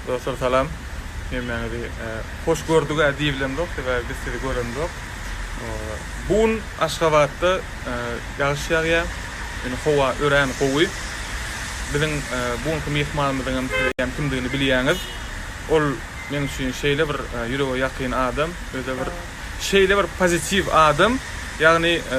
Dostlar salam. Hemmäňizi e, hoş gördük a diýibilemzok, sebäbi biz sizi göremzok. E, Bu gün Aşgabatda e, ýagyş ýagýar. Ýöne howa örän gowy. Biziň e, bu günki myhmanymyzyň hem siz hem kimdigini bilýäňiz. Ol men üçin şeýle bir e, ýürege ýakyn adam, öze bir şeýle bir pozitiw adam. Ýagny e,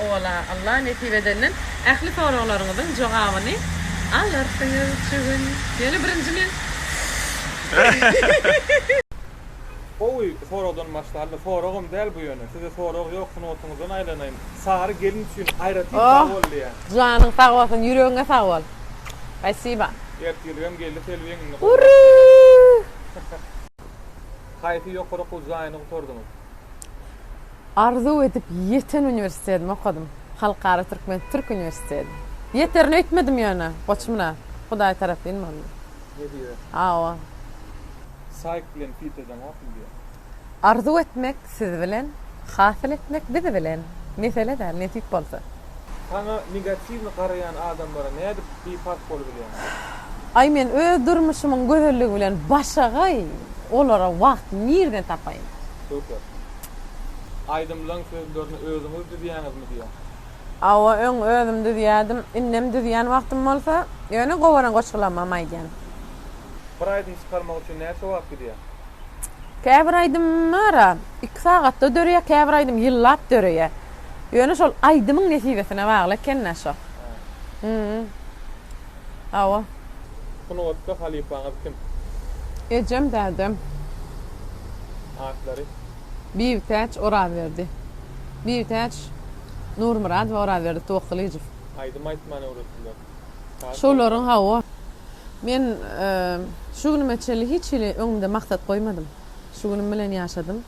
Owala Allah nesip edenden ähli soraglaryňyzyň jogabyny alarsyňyz şu gün. Ýöne birinji men. Gowy soragdan başlandy. Soragam däl bu ýöne. Size sorag ýok sungatyňyzdan aýlanaýyn. Sary gelin üçin aýratyn sag bol diýýän. Janyň sag bolsun ýüregiňe sag bol. Spasiba. Ertirgem geldi Selbi egnini gowrak. Haýsy ýokary okuw jaýyny gutardyňyz? Arzuw edip ýeten uniwersitetimi okadym. Halkara türkmen türk uniwersiteti. Ýeterin öýtmedim ýöne, goçmuna. Hudaý tarapyn boldy. Nebire? Hawa. Saýk bilen Pitedeň okyl diýä. Arzuw etmek siz bilen, hasyl etmek biz bilen. Mesele däl, nesip bolsa. Saňa negatiwny garaýan adamlara nädip biparh bolubilýäň? Aý men öz durmuşymyň gözelligi bilen başagaý olara wagt nirden tapaýyn. Super. Aýdymlaň sözlerini özüňiz düzýäňizmi diýýän. Hawa öň özüm düzýädim, indem düzýän wagtym bolsa, ýöne gowaran goşgulamam aýdýan. Bir aýdym çykarmak üçin näçe wagt gidýär? Käbir aýdymlar iki sagatda döreýär, käbir aýdym ýyllap döreýär. Ýöne şol aýdymyň nesibesine bagly ekennä şo. Hä. Hawa. Sungatda halypaňyz kim? Ejem, dädem. Atlary? Bibitäç Orazberdi. Bibitäç Nurmyradowa, Orazberdi Towakgalyjow. Aýdym aýtmany öwretdiler. Şolaryň hawa. Men şu günüme çenli hiç hili öňümde maksat goýmadym. Şu günüm bilen ýaşadym.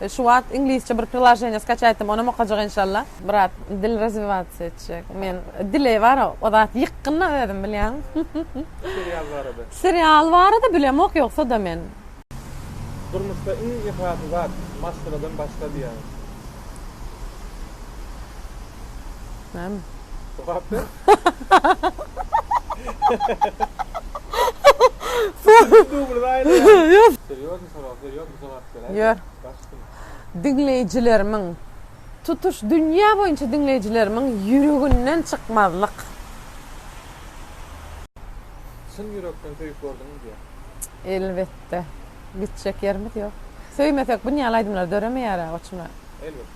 Şu wagt iňlisçe bir priloženiýa skaçaýtdym, onam okajak enşalla. Brat, dil razwiwatsiýa etjek. Men dile bara o zat ýykgyn-da özüm bilýäň. Serial barada. Serial barada bilemok ýogsa-da men. Durmuşda iň esasy zat, maşgaladan başla diýýäň. Näme? Jogap ber. Dublyny aýraýaň. Serýoznyý? Diňleýjilerimiň, tutuş dünýä boýunça diňleýjilerimiň ýüreginden çykmazlyk. Çyn ýürekden söýüp gördüňmi diýýär. Elbetde. Gitjek ýerimiz ýok. Söýmesek bu nýaly aýdymlar döremeýär-ä goçum-a. Elbetde.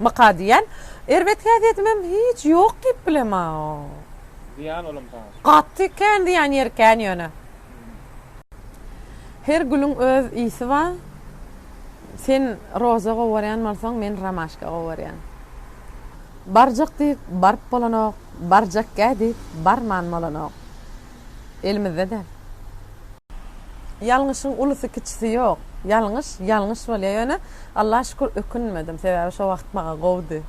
Maka diýýän. Erbet häsiýetimem hiç ýok diýip bilemao. Zyýan olam saňa. Gaty kän zyýan ýeri kän ýöne. Her gülüň öz ysy ba. Sen roza gowarýan bolsaň men romaşka gowarýan. Barjak diýip baryp bolanok, barjakgä diýip barman bolanok. elimizde däl. Ýalňyşyň ulusy kiçisi ýok. Ýalňyş, ýalňyş bolýar. Ýöne Allaha şükür ökünmedim. Sebäbi şo wagt maňa gowudy.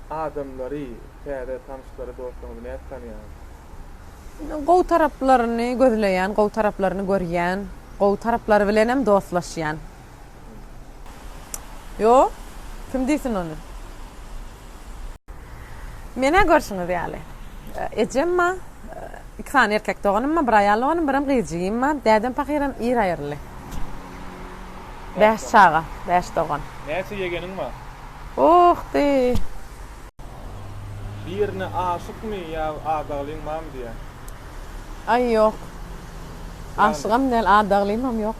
Adamlary, täze tanyşlary, dostlaryňyzy nädip tanýaňyz? Gowy taraplaryny gözleýän, gowy taraplaryny görýän, gowy taraplary bilenem dostlaşýan. Ýo, kim diýsin ony? Menä görşüňiz ýaly. Ejem ma, iki sany erkek doganym ma, bir aýal doganym, birem gyzjigim ma, dädem pahyram ir aýryldy. Bäş çaga, bäş dogan. Näçe ýegeniň ma? Oh, diý. Birine aşykmy ýa adaglyň mam diýýä? Aý, ýok. Aşygam däl, adaglymam ýok.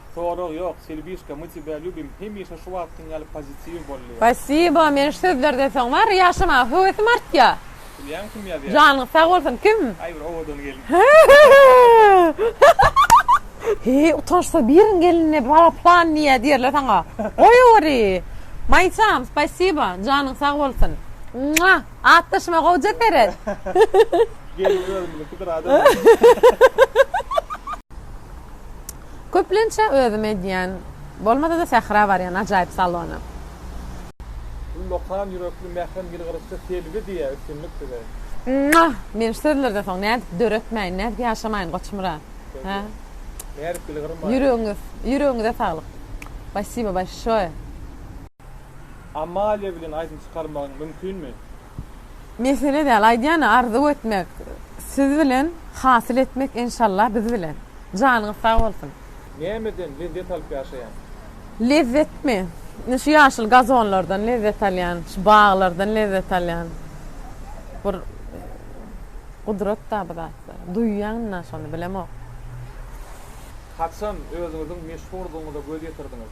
Sorag ýok Selbişka my tibä lýubim hemişe şu wagtkyň ýaly pozitiwi bollyja. Spasibo men şu sözlerden soň bar ýaşamaga höwesim artýa. Bilýäň kim ýazýa. Janyň sag bolsun kim. Aý bir owadan gelin. He utançsyz biriň gelinine bala plan diýýä diýerler saňa. Goýaweri. Maýsam spasibo janyň sag bolsun. Mua atdaşyma gowja seret. Gelin özümiziňkidir adam. Köplençä özüm edýän, bolmada-da Sähra barýan ajaýyp salona. Ullakan ýürekli mährem ýylgyryşçy Selbi diýä üstünlik size. Mwah! Men şu sözlerden soň nädip döretmäýin, nädip ýaşamaýyn Goçmyrat? Hä? Nädip ýylgyrmaýyn? Ýüregiňiz, ýüregiňize saglyk. Spasibo bolşoýe. Amalia bilen aýdym çykarmagyň mümkinmi? Mesele däl aýdýany arzuw etmek siz bilen hasyl etmek enşallah biz bilen. Janyňyz sag bolsun. Nämeden lezzet alyp ýaşaýaň? Lezzetmi? Ine şu ýaşyl gazonlardan lezzet alýan, şu baglardan lezzet alýan. Bir gudratda bu zatlar. Duýýan ynha şony bilemok. Haçan özüňiziň meşhurdygyňyza göz ýetirdiňiz?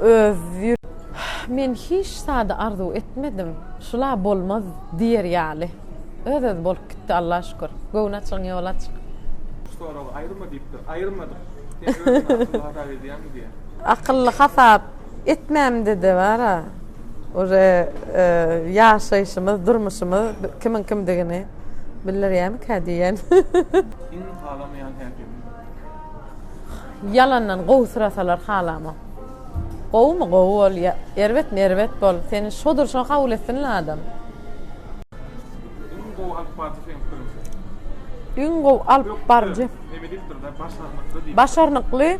Öz Men hiç zady arzuw etmedim, şula bolmaz diýer ýaly. Öz-özi bolup gitdi Alla şükür. Göwün açygyň ýoly açyk. Şu soragy aýyrma diýipdir. Aýyrmadyk. Sen özüňi akylly hasap edýäňmi diýýä. Akylly hasap etmämde-de bar-a. Uje ýaşaýşymyz, durmuşymyz kimiň kimdigini bildirýärmikä diýýän. Iň halamaýan häkim? Ýalandan gowy syrasalar halama. Gowymy gowy bol ýa erbetmi erbet bol seni şo durşuna kabul etsin la adam. Iň gowy alyp barjy seň pikirinçe. Iň gowy alyp barjy. Ökde neme diýipdir da başarnykly diýipdir. Başarnykly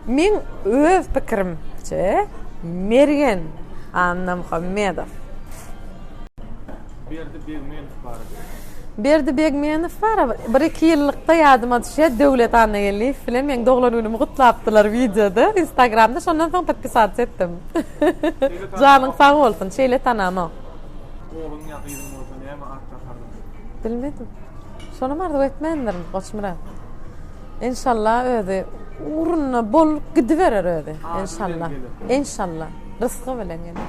meň öz pikirimçe Mergen Annamuhammedow. Berdi Begmenow barada. Berdi Begmenow bara bir-iki ýyllykda ýadyma düşýär, Döwlet Annageldiýew bilen meň doglan günümi gutlapdylar wideoda, instagramda, şondan soň podpisats etdim. Janyň sag bolsun, şeýle tanamok. Ogluň ýa gyzyň bolsa näme at dakardyň? Bilmedim. Şonam arzuw etmändirin, Goçmyrat. Enşalla özi ugruna bolup gidiberer özi, enşalla. Enşalla. Rysgy bilen geler.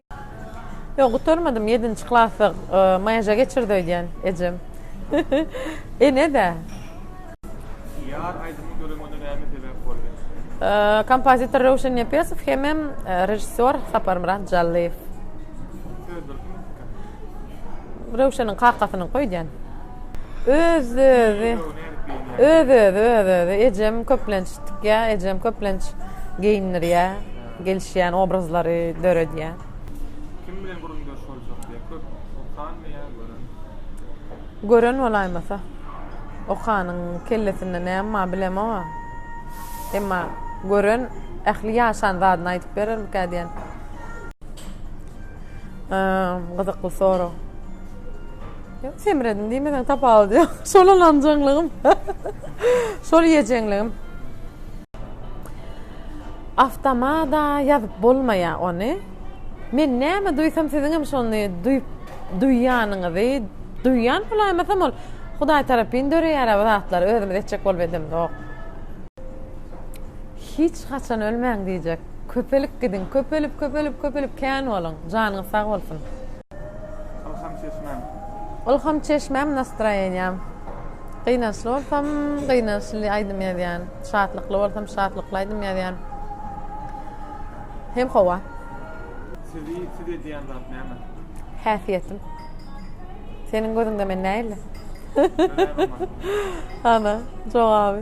Ýok, gutarmadym, ýedinji klasda maýaja geçirdi öýdýän ejem. Ene-dä. Ýar aýdymy göremede näme sebäp boldy? Kompozitor Röwşen Nepesow hemem režissýor Saparmyrat Jallyýew. Sözdür kimiň pikiri? Röwşeniň kakasynyňky öýdýän. Öz-özi, öz-özi, öz-özi. Ejem köplenç tikýär, ejem köplenç geýindirýär. Gelişýän obrazlary döredýär. Kim bilen gürrüňdeş boljak diýýär. Köp okanmy ýa gören? Gören bolaýmasa. Okanyň kellesinde näme bar bilemog-a. Emma gören ähli ýaşan zadyny aýdyp berermikä diýýän. Hym, gyzykly sorag. Ýok, semredim diýmeseň tapawudy ýok. Şol ynanjaňlygym. Şol iýejeňligim. Awtomada ýazyp bolmaýa ony. Men näme duýsam siziňem şony duýup duýýanyňyzy duýýan bolaýmasam ol Hudaý tarapyn döreýär-ä bu zatlar özümiz etjek bolup edemzok. Hiç haçan ölmäň diýjek. Köpelip gidiň köpelip köpelip köpelip kän boluň. Janyňyz sag bolsun. Ylham çeşmäm. Ylham çeşmäm Nastroýeniýam. Gynançly bolsam gynançly aýdym ýazýan. Şatlykly bolsam şatlykly aýdym ýazýan. Hem howa. Sizi siz edýän zat näme? Häsiýetim. Seniň gözüňde men nähili? Ana jogaby.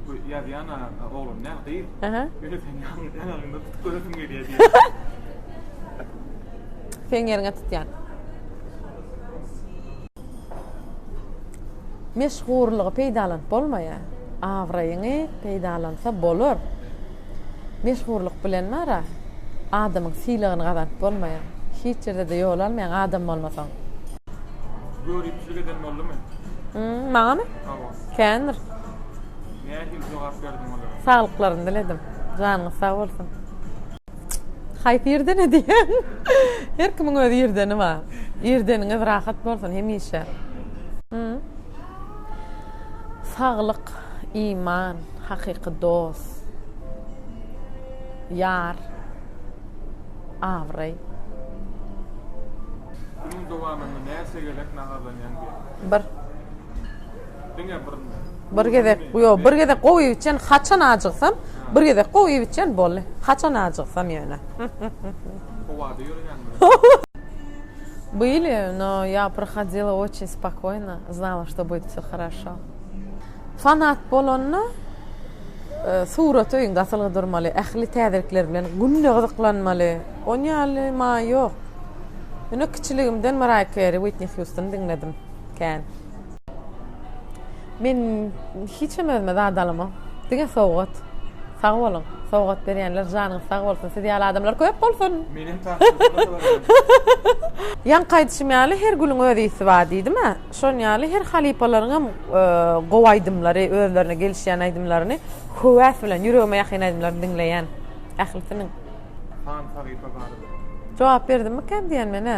Bu ýazýan oglan däl gyz. Aha. Ýöne seni ýaňy ýaňagyňda tutup göresim gelýär diýýär. Seň ýeriňe tutýan. Meşhurlygy peýdalanyp bolmaýar. Abraýyňy peýdalansa bolar. Meşhurlyk bilen bar-a, adamyň sylagyny gazanyp bolmaýar. Hiç ýerde-de ýol almaýaň adam bolmasaň. Göripsilik eden boldumy? Hum, maňamy? Hawa. Kändir. Nähili jogap berdiň olara? Saglyklaryny diledim. Janyňyz sag bolsun. Haýsy irdene diýýän? Her kimiň öz irdeni bar. Irdeniňiz rahat bolsun hemişe. Saglyk, iman, hakyky dos, ýar, abraý. Günüň dowamynda näçe gezek naharlanýaň diýýän? Bir. Bir gezek, ýok, bir gezek gowy iýip içen, haçan ajygsam, bir gezek gowy iýip içen, boldy. Haçan ajygsam ýöne. Howada ýöreýäňmi? Byli, no ýa prohadyla oçin spokoýno, znala što bud vsё haraşo. Fanat bolanda surat öýüňde asylgy durmaly, ähli täzelikler bilen günde gyzyklanmaly. Ony ýaly maý ýok. Ýöne kiçiligimden Maraýa Keri, Witni Hýustony diňledim kän. Men hiçem özüme zat alamok. Diňe sowgat. Sag boluň. Sowgat berýänler janyňyz sag bolsun. Siz ýaly adamlar köp bolsun. Menem Ýaňky aýdyşym ýaly her gülüň öz ysy bar diýdim-ä. Şon ýaly her halypalaryň hem gowy aýdymlary, özlerine gelişýän aýdymlaryny höwäs bilen, ýüregime ýakyn aýdymlaryny diňleýän. Ählisiniň. Hansahypa barada. Jogap berdimmikäm diýýän men-ä.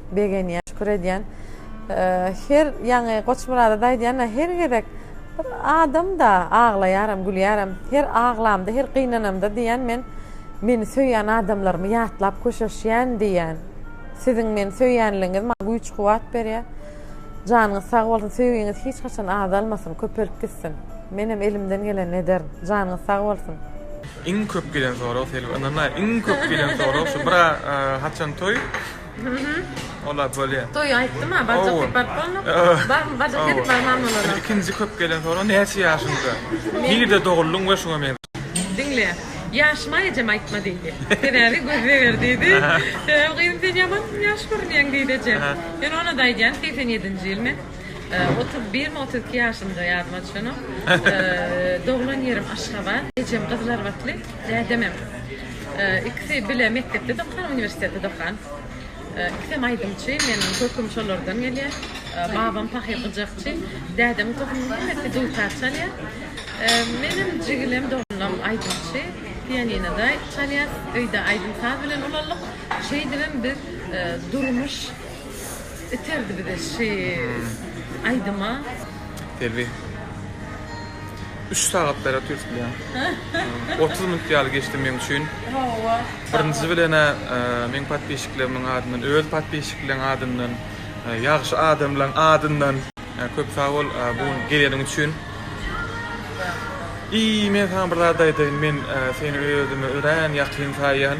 Begenýän, şükür edýän. Her ýaňy Goçmyrada-da aýdýan-a, her gezek bir adam-da, aglaýaram, gülýärem. Her aglamda, her gynanamda diýýän, men meni söýýän adamlarymy ýatlap köşeşýän diýýän. Siziň meni söýýänligiňiz maňa güýç-kuwwat berýär. Janyňyz sag bolsun, söýgiňiz hiç haçan azalmasyn, köpelip gitsin. Menem elimden gelenini ederin. Janyňyz sag bolsun. Iň köp gelen sorag Selbi ynanma iň köp gelen sorag şu bir haçan toý. Olar bolýa. Toýy aýtdym ha, barjak diýip baryp bolnok. Barmy, barjak diýip barman bolara. Ikinji köp gelen sorag, näçe ýaşyňda? Nirde doguldyň we şuňa meňzeş. Diňle, ýaşyma ejem aýtma diýdi. Sebäbi göz zeger diýdi. Sebäbi gyzym sen ýaman ýaş görünýäň diýdi ejem. Men onada aýdýan segsen ýedinji ýyl men. Otuz birmi, otuz iki ýaşymda ýadyma düşenok. Doglan ýerim Aşgabat. Ejem Gyzlarbatly. Dädemem. Ikisi bile mekdepde-de okan, uniwersitete-de okan. Ikisem aýdymçy. Meniň köküm şolardan gelýär. Babam pahyr gyjakçy. Dädemiň tohumynyň hemmesi dutar çalýar. Menem jigilem, doganam aýdymçy. Pianinoda çalýas. Öýde aýdym-saz bilen ulaldyk. Şeýdibem biz durmuş. Iterdi bize şi aýdyma. Selbi. Üç sagatlara tüýsdüleň. Otuz minut ýaly geçdi meň üçin. Hawa. Birinji bilen-ä meň podpisçiklerimiň adyndan, öz podpisçikleň adyndan, ýagşy adamlaň adyndan. Köp sag bol bu gün geleniň üçin. Iý men saňa bir zat aýdaýyn men seni özüme örän ýakyn saýýan.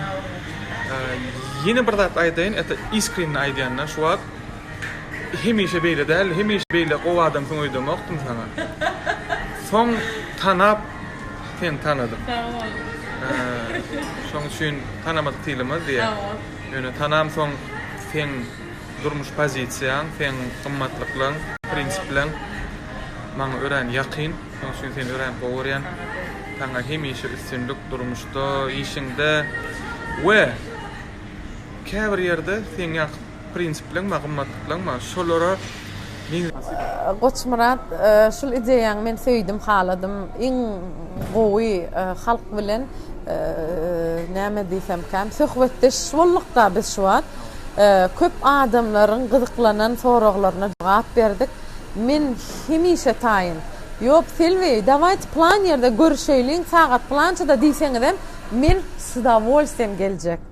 Ýene bir zat aýdaýyn et iskrinni aýdýanda şu wagt hemişe beýle däl hemişe beýle gowy adamsyň öýdemokdym saňa. Soň tanap seni tanadym. Sag bol. Şoň üçin tanamadyk diýlemez diýä. Ýöne tanam soň seň. Durmuş pozisiýaň, seň gymmatlyklaň, prinsiplaň maňa örän ýakyn. Şonuň üçin seni örän gowy görýän. Saňa hemişe üstünlik durmuşda, işiňde we käbir ýerde seň ýaky prinsiplaň bar, gymmatlyklaň bar. Şolara Goçmyrat şul ideýaňy men söýdüm haladym iň gowy halk bilen näme diýsemkäm söhbetdeş boldukda biz şu wagt köp adamlaryň gyzyklanan soraglaryna jogap berdik men hemişe taýyn ýok Selbi dawaýt plan ýerde görüşeýliň sagat plançada diýseňizem men sudawolstwiýem geljek.